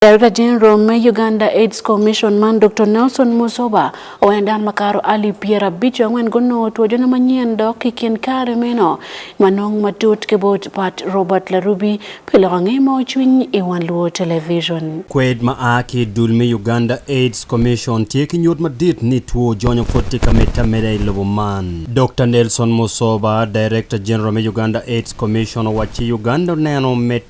Darekta Jeneral me Uganda Aids Commission man Doktor Nelson Muzoba owaco ni dano makato alip pyerabico angwen gunongo two jono manyen dok i kin kare meno manong matut ki bot Pat Robert Larubi pi loko nge moo cwiny i wan luo television. Kwed ma a ki i dul me Uganda Aids Commission tye ki nyut madit ni two jonyo pud tye ka medde ameda i lobo man. Doktor Nelson Muzoba, Darekta Jeneral me Uganda Aids Commission owaco ci Uganda oneno med.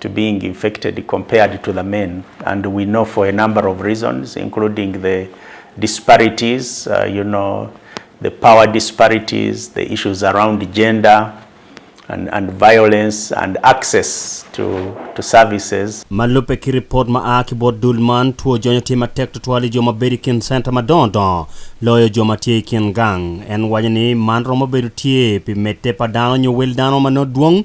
to being infected compared to the men and we know for a number of reasons including the disparities you know the power disparities, the issues around gender and violence and access to services. Ma lubbe ki ripot ma a ki bot dul man, two jony tye matek tutwal i jo ma bedo i kin center madongo dongo loyo jo ma tye i kin gang. En waco ni man romo bedo tye pi medde pa dano nyo wel dano ma nongo dwong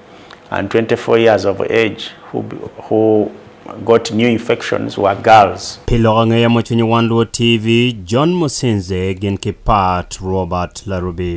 and 24 years of age who who got new infections were girls. Pi lok angeya ma cwinyo wan luo TV, John Musinze gin ki Pat Robert Larubi.